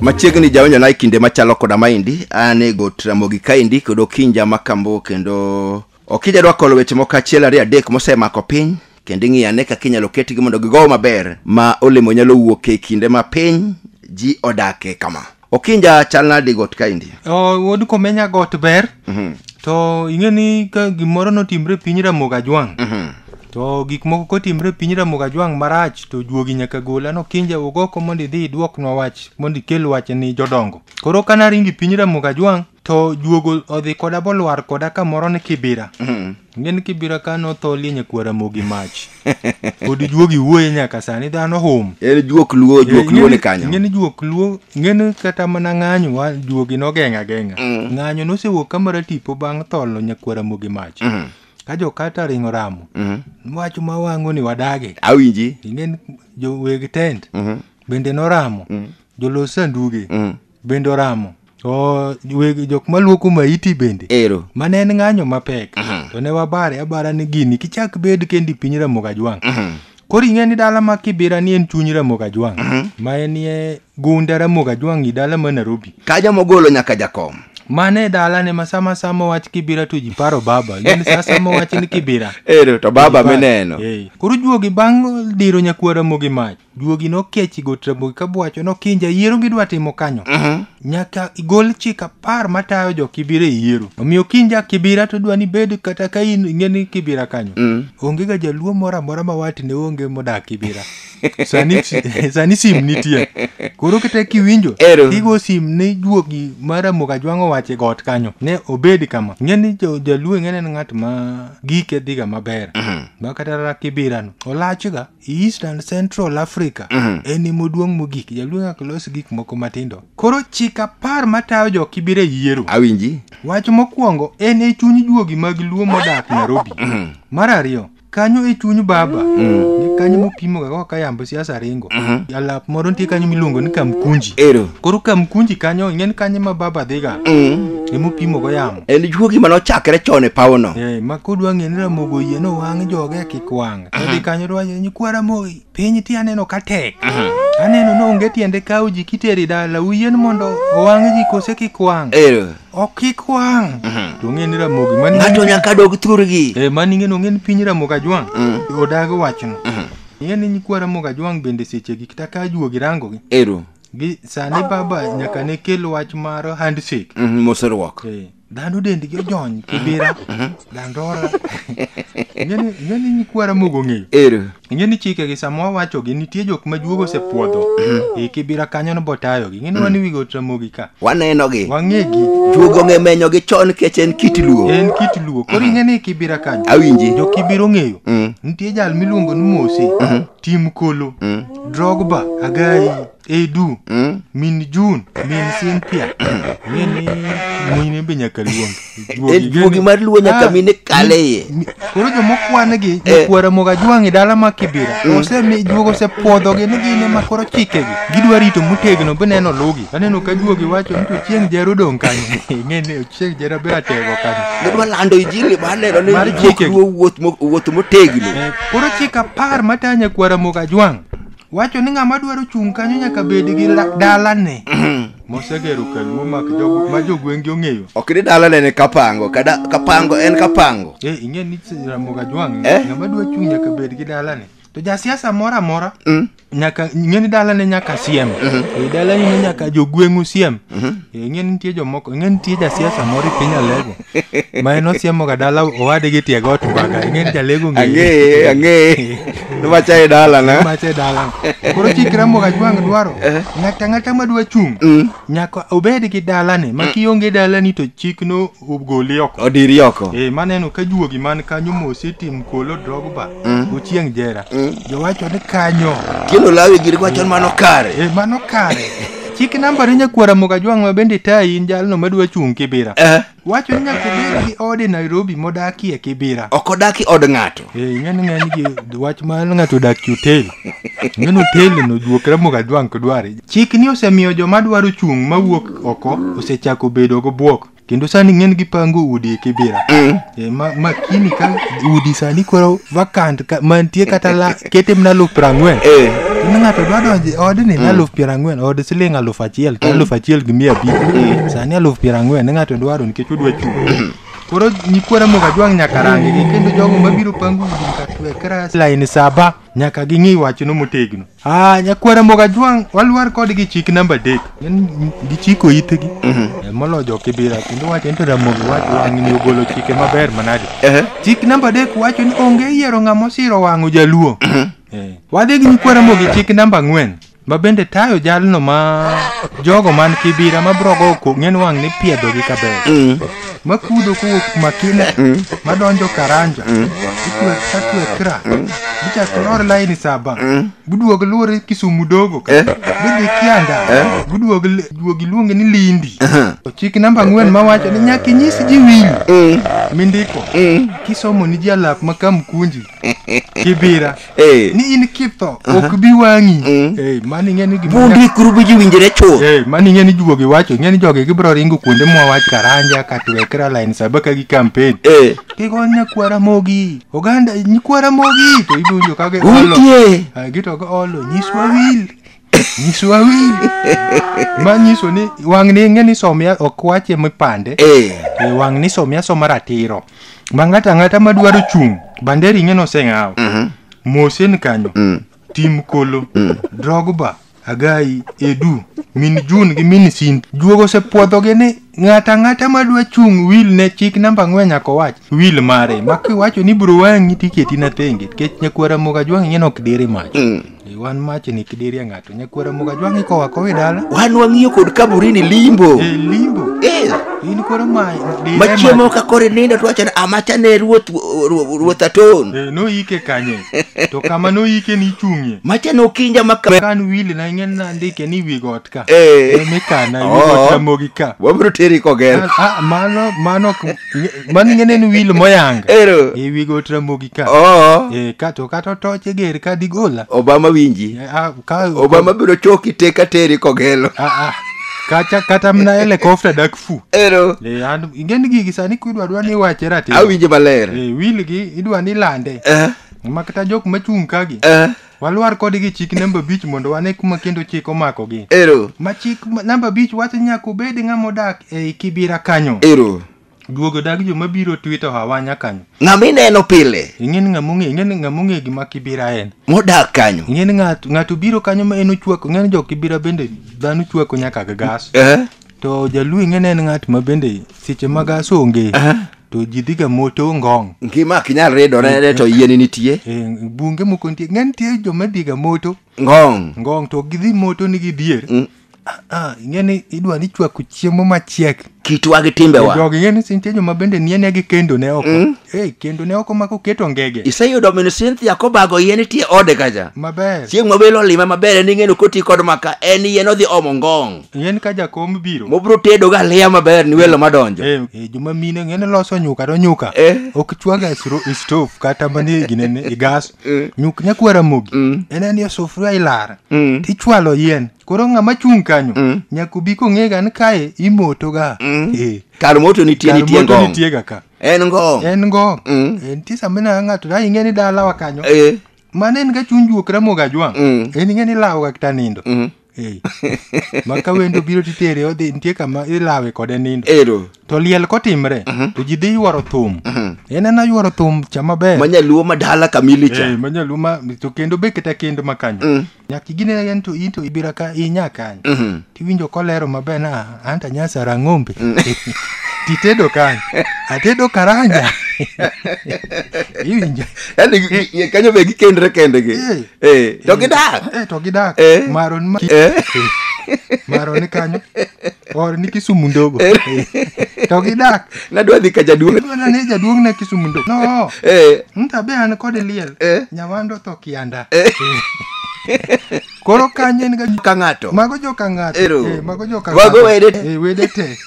machiegni jawinjo na e kinde machalo koda maendi an e got ramogi kaendi kod okinja makambo kendo okinja dwa kolo weche moko achiel ariyo adek mosemako piny kendo ing'iyo ane kaka inyalo ketgi mondo gigow maber ma olemo nyalo wuok e kinde ma piny ji odake kama okinja chal nadi got kaendi O, wuod komenya got ber Mhm, to ing'e ni ka gimoro notimre e piny ramoga jwang' mhm. to gik moko kotimre e piny ramoga jwang' marach to juogi nyaka gola nokinja wuog oko mondo idhi idwoknwa wach mondo ikel wach ni jodongo koro kanaringo e piny ramoga jwang' to juogo odhi koda bolwar koda kamoro ni kibira mm. ngeni kibira ka notho lienye kwara mogi mach pod juogi wuoye nyaka sani dhano hum en juok luo eh, juok luo ni kanyo ngeni juok luo ngeni kata mana ng'anyo wa juogi nogeng'a geng'a mm. ng'anyo nosewuok kamara tipo bang' tholo nyakwara mogi mach mm. ka jokata ringo ramo mm. wach ma wang'o ni wadage awinji ingen joweg tent mm -hmm. bende noramo mm. jolos sanduge mm. bende oramo to weg- jok maluoko maiti bende ero mane en ng'anyo mapek to ne wabare abara ni gini kichak bed kendi piny ramogi ajwang' koro ing'e ni dala ma kibira ni en chuny ramogi ajwang' ma en ye gunda ramogi ajwang' i dala ma nairobi kaja mogolo nyaka jakom mane dala ne ma sama sama wach kibira to ji paro baba ing'e ni sa sama wach ni kibira ero to baba Ji paro. mineno Eh, koro juogi bang' diro nyakwara mogi mach Juogi nokechi got Ramogi ka bwacho nokinja yiero gidwa timo kanyo. Nyaka igol chik apar matayo jo Kibira e yiero. Omiyo kinja Kibira to dwa ni bed kata ka in ing'e ni Kibira kanyo. Onge ga jaluo moro amora ma wati ne onge modak Kibira. Sani sani sim nitie. Koro kata kiwinjo Ero. igo sim ni juogi ma Ramogi Ajwang' owacho e got kanyo ne obed kama. Ing'e ni jo- jaluo ing'e ni en ng'at ma gike dhiga maber. Ma kata ra Kibira no olachga. East and Central Africa en emoduong' mogik jaluo nyaka los gik moko matindo koro chik apar matayo jo kibire yiero awinji wach mokwongo en e chuny juogi mag luo modak Nairobi mar ariyo kanyo e chuny baba ni kanyo mopimoga kaka yambo siasa ringo alap moro nitie kanyo miluongo ni kamkunji ero koro kamkunji kanyo ing'eni kanyo ma baba dhiga emopimogo yamo en juogi mane ochakre chon e pawono Eh, ma kodwa ng'e ni ramogo yie no wang' joge kik wang' Odhi kanyo to wacho nyikwa Ramogi, piny ti aneno ka tek. Aneno ni onge tiende kawo ji kiteri dala, uyien mondo owang' ji kose kik wang'. Ero. Ok kik wang'. To ng'e ni Ramogi mani Ng'ato nyaka dog thurgi. Eh, mani ng'e ni ong'e ni piny Ramogi Ajwang' odagi wachno. Ing'e ni nyikwa Ramogi Ajwang' bende sechegi kata ka ajuogi rangogi. Ero. Gi sani baba nyaka ne kel wach mar handshake. Mhm, Moseruok. Eh. Dhano dendgi ojony kibira, dandora. Ing'eni ing'eni nyikwara mogo ng'eyo. Ero. Ing'eni chikegi sama wawachogi nitie jok ma juogo osepuodho. E kibira kanyo no botayogi. Ing'eni wan wi got Ramogi ka. Wanenogi. Wang'egi. Juogo ong'e menyogi chon nikech en kit luo. En kit luo. Koro ing'eni e kibira kanyo. Awinji. Jo kibira ong'eyo. Mm. Nitie jal miluongo ni Mosi, Tim Kolo, Drogba, Agai. edu Mm? min jun min cynthia ng'e ni wuoyine be nyaka luong Eh, juogi mar luo nyaka Ah, mine kale iye mi- koro jomokwan gi Eh. jokwara moga jwang' e dala ma kibira osemi juogo osepwodhogi ni gine ma koro chikegi gidwa rito motegno be neno lugi aneno ka juogi wacho ni to chieng' jero dong' kanyo ng'e ni chieng' jero be atego kanyo gidwa lando injili mar neno ni Mar juok chikegi. luo wuoth mo- wuoth motegno Eh, koro chik apar matanya kwara moga jwang' wacho ni ng'ama dwaro chung' kanyo nyaka bed gi la- dalane mosegero kanyo momak jogo ma jogweng'gi ong'eyo ok ni dala nene kapango kada kapango en kapango e ing'e ni ramoga jwang' Eh? ng'ama dwa chung' nyaka bed gi dalane to jasiasa moro amora Mm. nyaka ing'e ni dalane nyaka siem e dalane ne nyaka jogweng'u siem e ing'e ni nitie jomoko ing'e ni nitie jasiasa moro e piny alego ma en osiemoga dala owade gi tiego otwaga ing'eni jalego ang'eye ang'eye nimacha e dalana macha e dalana koro chikra moga jwang' dwaro ng'ata ng'ata madwa chung' Mm. nyaka obed gi dalane ma kionge dalani to chikno ogoli oko odiri oko Eh, maneno ka juogi man kanyo mosi tim kolo drogba ochieng' jera jowacho ni kanyo kino lawi giri kwachon mano kare Eh, mano kare Chik namba ni nyakwara Mugajwang' ma bende tayi in jalno madwa chung' Kibira. Eh, Wacho ni nyaka ibed gi ode Nairobi modakie Kibira. ok odaki od ng'ato. Eh, ing'eni ng'eny gi wach ma ng'ato odak e hotel. Ing'eni hotel no juokre Mugajwang' kudware. Chik ni osemiyo joma dwaro chung' mawuok oko osechako bedo gi bwok. kendo sani ng'en gipango udi e kibira e, ma, ma kini ka udi sani koro vacant ka, mantie kata la kete mna luf piero ang'wen Eh. kendo ng'ato dwa donje odni na luf piero ang'wen od siling aluf achiel to aluf achiel gi mia abich sani aluf piero ang'wen ne ng'ato dwaro nikech odwa chung' koro nyikwara moga jwang' nyaka rangi kendo jogo mabiro pango udi nyaka twe kras laini saba nyaka ging'i wachno motegno Ah, nyakwara moga jwang' walwar kodgi chik namba adek En- gichiko itgi Eh, molo jokibira kendo wacho ni to ramogi wacho wang'ni ogolo chike maber manade Ehe. chik namba adek wacho ni onge yiero ng'ama osiro wang'o jaluo Eh, wadhi gi nyikwara mogi chik namba ang'wen ma bende tayo jalno ma jogo man kibira ma brogo ko ng'en wang' ni piedhogi kaber makudho kowuok makina madonjo karanja itwe katwe kra gichak lor laini saba giduog lure kisumu dogo ka gidhi kianda giduog duog iluonge ni lindi ochik namba ang'wen mawacho ni nyaka inyis ji winyo mindiko kisomo ni ji alap ma kamkunji kibira Eh. ni in kitho ok bi wang'i Mm. Eh, mano ing'e ni gima Bundi kurubi ji winjire chuth. Eh, mano ing'e ni juogi wacho ing'e ni jogi gibiro ringo kuonde mwawach karanja katwekra line saba ka gi campaign Eh. kigon nyakwara mogi oganda nyikwara mogi to idonjo ka giolo Utie. Ah, gito giolo nyiswa wil nyiso awinji ma nyiso ni wang' ni ing'e ni somia ok wache mipande Eh. e wang' ni somia soma ratiro ma ng'ato ang'ata ma dwaro chung' bande ring'e noseng'aw mosen kanyo tim kolo drogba agai edu min jun gi min sin juogo osepwodhogi ni Ng'ata ng'ata ma dwa chung' wil ne chik namba ang'wen nyaka owach wil mare. Ma kiwacho ni bro wang'i tiketi na thenge. Kech nyakwara moga jwang' ing'e nok diri mach. Mm. E, wan mach ni kidiri ng'ato. Nyakwara moga jwang' ikowa kowe dala. Wan wang'iyo kod kaburini limbo. E, limbo. Eh. In koro ma diri mach. Machiemo ka kore nindo to wacho ni amacha ne ruoth ruoth aton. E, no ike kanye. to kama no ike ni chung'ie. Macha no kinja maka. Kan wil na ing'e na ndike ni wigot. ka Eh. Eh, mikana Oh. iwuok ramogi ka wabiro teri koger Ah, ah, mano mano ok- mano ing'e ni en wil moyanga ero e wi got ramogi ka oo Eh, ka to kata otoche ger ka digola obama winji Eh, ah, ka- obama biro choki te ka teri kogelo Ah, ah. Kacha- kata mna helikopta dak fu ero Eh, an- ing'e ni gigi sani kidwa dwa ni iwache ratiro awinje maler Eh, wil gi idwa ni ilande eh ma kata jok machung' kagi eh Walwar kode gi chik namba abich mondo wane kuma kendo chik omakogi. Ero. Ma chik ma- namba abich wacho ni nyaka obed ng'ama odak ei kibira kanyo. Ero. Duogo dag joma biro twito hawanya kanyo. Ng'ama ineno pile Ing'e ni ng'ama ong'e, ing'e ni ng'ama ong'e gima kibira en. modak kanyo. Ing'e ni ng'ato ng'ato biro kanyo ma en ochwako, ing'e ni jo kibira bende dhano chwako nyaka gi gas. Eh? To jaluo ing'e ne en ng'at ma bende seche mag asonge to ji dhiga moto ngong'. ngima ok inyal ridore ne to yieni nitie E, bunge moko nitie ng'e nitie joma dhiga moto ngong ngong' to gidhi moto ni gidhier. Mm. Ah, ah, ing'e ni idwa ni chwako chiemo machiek. kitwa gi timbewa Jogi ing'e ni nitie joma bende nie ne gi kendo ne oko. Mm. Eh, kendo ne oko mako keto ngege. iseyudo min cynthia kobago yie nitie ode kacha Maber. chieng' mabelo olima maber en ing'eno koti kod maka en yien odhi omo ngong ng'en ka jakom biro mobro tedo ga aliya maber ni welo madonjo Eh, eh, joma mine ng'ene loso nyuka to nyuka Eh. ok chwaga stove kata mani ginene i gas Eh. nyuk nyakwa ramogi Mm. en en yo sufuria ilara Mm. tichwalo yien koro ng'ama chung' kanyo Mm. nyaka obi kong'ega ni kae imotoga Mm. Eh, kar moto nitie kar nitie moto ngong nitiega ka en ngong en ngong Mm. Eh, nitie sama ineno ng'ato da ing'e ni dalawa kanyo Eh, mane en ga chuny juok ramoga jwang' Mm. en ing'e ni lawoga kata nindo Mhm. Eh. ma ka wendo biro titere odhi nitie kama ilawe kode nindo ero to liel kotimre to ji dhi yuoro thum en ana yuoro thum cha maber manyaluo madala kamili cha Eh, manyaluo ma to kendo be kata kendo makanyo nyaka igine en to in to ibira ka inya kanyo Mhm. tiwinjo kolero maber na anta nyasa rang'ombe titedo kanye atedo karanja iwinjo yani gi- gi- kanyo be gikendre kendgi Eh. Eh, to gidak Eh, to gidak Eh. maron ma- Eh. maron kanyo or ni kisumu ndogo Eh, to gidak nadwa dhi ka jaduong' Bwana ne jaduong' na kisumu ndogo no Eh, ntabe an kod liel Eh. nyawando tho kianda Koro kanyo en ga ka ng'ato mago joka ng'ato Ero. eh, mago joka Mago ng'ato. wede te. Eh, wede te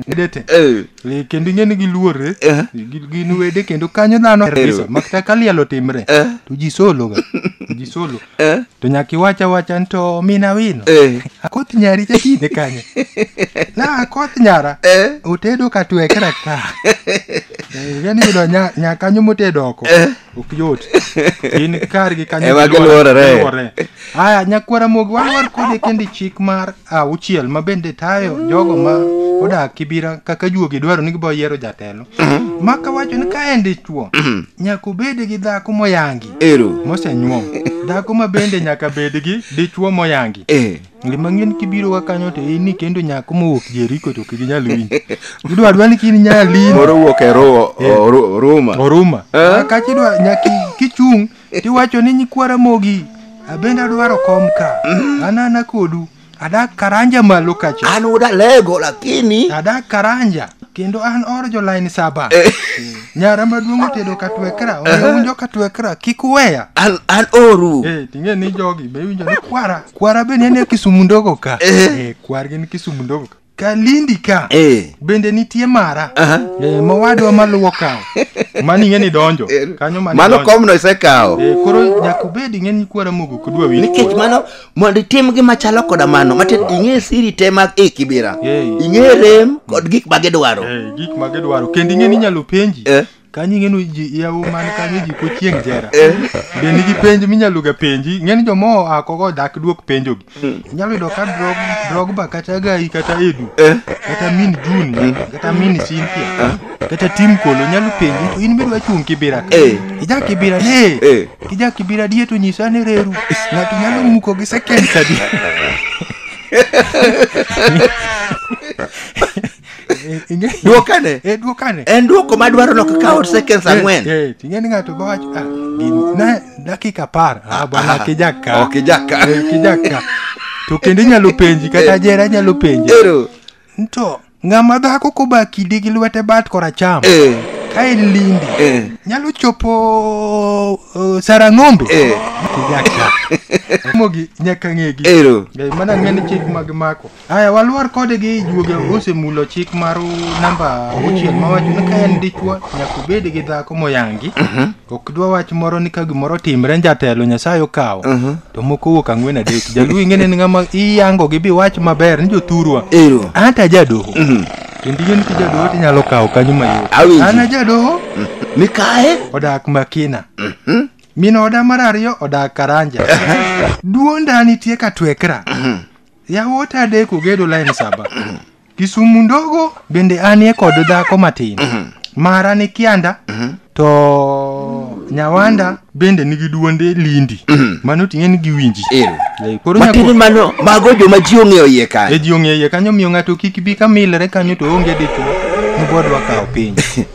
wede te Eh, Eh, kendo ing'e ni giluore Eh. Gi- gin wede kendo kanyo dhano kabisa makta ka liel otimre Eh. to ji solo ga To ji solo eh, to nyaka iwach awacha ni to mina wino eh, akoth nyari chakine kanyo na akoth nyara eh, otedo katwekra ka Eh, yani yudo nya- nyakanyo motedo oko eh, ok yot in kargi kanyo Ema giluorore. giluorore. aya nyakwara mogi walwar kode kendi chik mar auchiel ma bende tayo jogo ma odak kibira kaka juogi dwaro ni gibo yiero jatelo maka wacho ni ka en dichuo nyaka obed gi dhako moyangi Ero. mosenyuom dhako ma bende nyaka bed gi dichuo moyangi Eh. Ng'li mang'ien kibiro ka kanyo to in kendo nyako mowuok Jeriko to ok ginyal winji. Gidwa adwa ni kini nyaya lini. Moro wuok e ro- Eh. o- ro- Ruma. Oruma. Eh? Kachi dwa nyaki kichung' tiwacho ni nyikwara mogi. Abende adwaro kom ka. Anana kodu. Adak karanja malo kacha. An uda lego lakini. Adak karanja. Kendo an or jo line saba. Nyara maduong' otedo katwekra. Oya Eh. winjo katwekra. Kik uweya. An an oru. Eh, ting'e ni jogi be winjo ni kwara. Kwara be nene Kisumu ndogo ka. Eh. Eh, kwar gin Kisumu ndogo ka. Kalindi ka. Eh. Bende nitie mara. Aha. Eh, mawadwa maluwo kawo. Mani ng'e ni donjo. Kanyo mani Mano donjo. komno isekawo. Eh, koro nyaka obed ing'e ni kwara mogo kudwa winj. Nikech mano mondo itim gima chalo koda mano, matin ing'e siri te mag e kibira. Eh. Ing'e rem kod gik ma gidwaro. Eh, gik ma gidwaro. Kendo ing'e ni inyalo penji. Eh. ka nyinge nu ji yawu man kanyo ji ko chieng' jera be nigi penj minyalo ga penji ng'eni joma oa kogo dak duok penjogi inyalo yudo ka drog drogba kata gai kata edu Eh. kata min juni kata min sintia kata tim kolo nyalo penji to in midwa chung' kibira ka Eh. ija kibira Eh. eh kija kibira die to nyisa ni reru ng'ato nyalo muko gi seconds adi Eh, ing'e- Dwokane. Eh, dwokane En dwoko madwaro nok kawo seconds Eh, ang'wen. eh, ting'e ni ng'ato go wacho ah, gini na dakika apar ah, bwana ah, kijaka ok, kijaka. Eh, kijaka to kendo inyalo penji kata jera inyalo penji Ero. to ng'ama dhako koba kidi gi lwete bat koracham Eh. ka en lindi Eh. nyalo chopo uh, sarang'ombe Eh. kijaka mogi nyaka ng'egi Ero. Eh, mana ng'eni chik mag mako Aya, walwar kode gi juoge osemulo chik mar namba auchiel mawacho ni ka en dichwo nyaka obed gi dhako moyangi ok dwa wach moro ni ka gimoro timre ni jatelo nyasaye okawo to moko wuok ang'wen adek jaluo ing'e ni ng'ama iyango gi bi wach maber ni jothurwa Ero. anta jadoho kendo ing'e ni ki jadoho tinyalo kawo kanyo mayot Awinji. an ajadoho Mikae. odak makina min oda mar ariyo odak karanja duonda nitie ka twekra Yawuot adek ogedo lain saba. Kisumu ndogo bende anie kod dhako matin. Mara ni Kianda to Nyawanda bende nigi duonde Lindi. Mano ting'e ni giwinji. Ero. Eh, Koro Matiende nyako mano mago joma ji ong'eyo iye e kanyo. ji ong'eye kanyo miyo ng'ato kik bi ka milre kanyo to onge dichwo mobodwa kawo piny.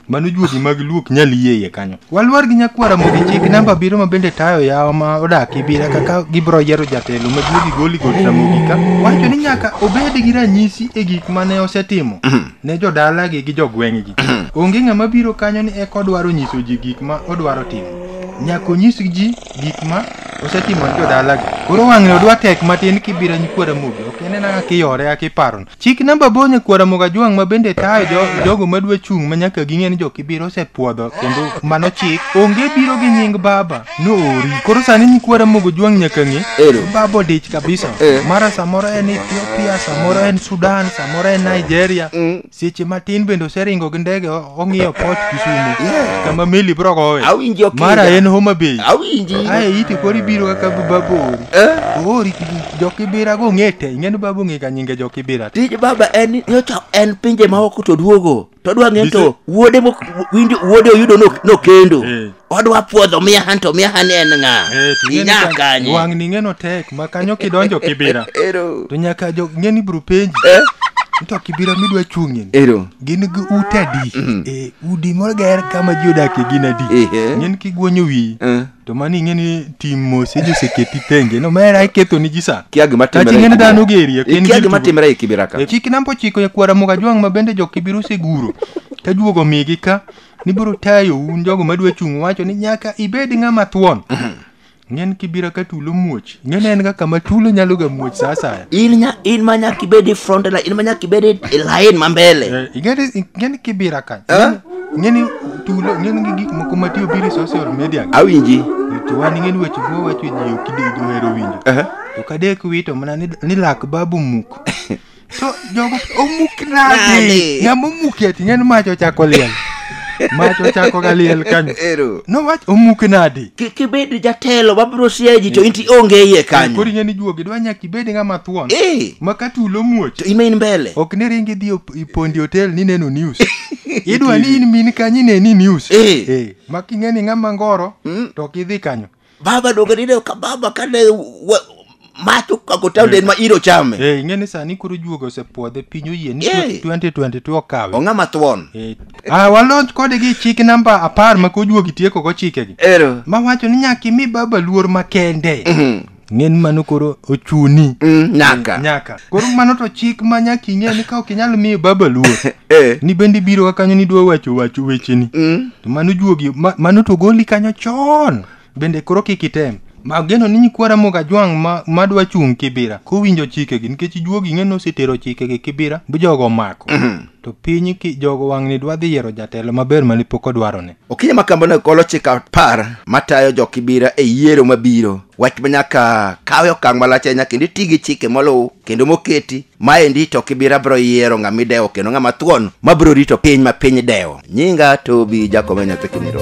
Mano juogi mag luok nyal yie iye kanyo. Walwar gi nyakwara mogi chik namba biro ma bende tayo yawa ma odak ibira kaka gibro yiero jatelo ma juogi goli god ramogi ka wacho ni nyaka obed gi ranyisi e gik mane osetimo ne jodalagi gi jogweng'gi. Onge ng'ama biro kanyo ni eka odwaro nyiso ji gik ma odwaro timo. Nyaka onyis ji gik ma osetimo ne jodalagi. Koro wang'e odwa tek matin kibira nyikwara mogi ok inena kaka iyore kaka iparono. Chik namba aboro nyakwar Ramogi Ajwang' ma bende tayo jo, jogo madwa chung' ma nyaka ging'e ni jokibiro osepuodho kendo mano chik. Onge biro gi nying baba, noori. Koro sani nyikwa Ramogi Ajwang' nyaka ng'e. Ero. Baba odich kabisa. Eh. Mara samoro en Ethiopia, samoro en Sudan, samoro en Nigeria. Seche matin bende oseringo gi ndege o- ong'iyo port Kisumu. Kama meli biro gowe. Awinjo kinda. Mara en Homa Bay. Awinji. Ae iti kori biro kaka baba ori. Eh? Oori kidi. Jokibira go ng'ete, ing'eni babu ng'e ka nyinge Jokibira. tij baba en ni nyocha en pinje ma oko to duogo to odwa ng'e to wuode mok- winjo wuode oyudo no- nokendo Eh. odwa puodho miya han to miya han en ng'a Eh, to ing'eni inya ka- kanye Wang' ni ing'eno tek, ma kanyo kidonjo Kibira. ero To nyaka jo ng'eni bro penji. Eh. To Kibira midwa chung'ie. ero gin gi ute adi e udi moger kama ji odakie gin adi Ehe. ng'en kigwonyo wiyi Eh. to mano ing'e ni tim mos eji oseketi tenge no mera iketho ni ji sa kia gima Tachi timre ng'eni dhano gerie, ok en kia gir gima tugo. timre e kibira ka chik namba ochiko nyakwara muga jwang' ma bende jokibiro oseguro ka juogo migi ka nibiro tayo un jogo madwa chung' wacho ni nyaka ibed ng'ama thuon ng'en kibira ka tulo muoch Ing'e ne en ga kama tulo nyalo ga muoch sa asaya. in nya in ma nyaka ibed e front line in ma nyaka ibed e e line ma mbele Eh, Ing'e ni- ing'e ni kibira ka. Eh? Ing'e ni tulo, ing'e ni gik moko ma tiyo biro e social media. awinji To wan ing'e ni weche go wacho ji ok idi- ji ohero winjo. Aha. To kadek wito mana ni ni lak babu muk. to jogo omuk nade Nade? ng'ama omuki ati ng'en mach ochako liel mach ochako ga liel kanyo Ero. nowach omuk nade Ki- kibed jatelo mabiro siayo ji to inti onge iye koro kanyo ing'e ni juogi dwa nyaka ibed ng'ama thuon Eh, ma ka tulo muoch to imain mbele ok ni ringi dhi op- i pondi hotel ni neno news idwa ni in min kanyo ineni news Eh. Eh, ma king'e ni ng'ama ngoro to ok idhi kanyo baba donge nineno ka baba kane wa- mach okako taon en ma iro chame Eh, ing'e ni sani koro juoga osepwodhe piny oyie ni Eh. 2022 okawe ong'ama thuon Eh, ah, walonj kode gi chik namba apar ma kojuogi tieko go chikegi ero mawacho ni nyaka imi baba luor makende ng'e ni mano koro ochuni Mm, nyaka nyaka koro mano to chik ma nyaka ing'e ni ka ok inyal miyo baba luor Eh. ni bende ibiro ka kanyo nidwa wacho wacho wecheni Mm. to mano juogi ma- mano to goli kanyo chon bende koro kik item mageno ni nyikwara moga jwang' ma- madwa chung' kibira kowinjo chikegi nikech juogi ing'e ni osetero chikegi kibira bi jogo omako to piny ki- jogo wang'ni dwa dhi yiero jatelo maber mane pok odwarone Okinyi ma kambono golo chik apar matayo jo Kibira e yiero mabiro. Wach ma nyaka kawe okang' malach ahinya kendo iti gi chike moluw kendo moketi. Maendi to Kibira biro yiero ng'ama idewo kendo ng'ama thuon ma biro rito piny ma piny dewo. Nyinga Tobi Jakome Nyathi Kiniro.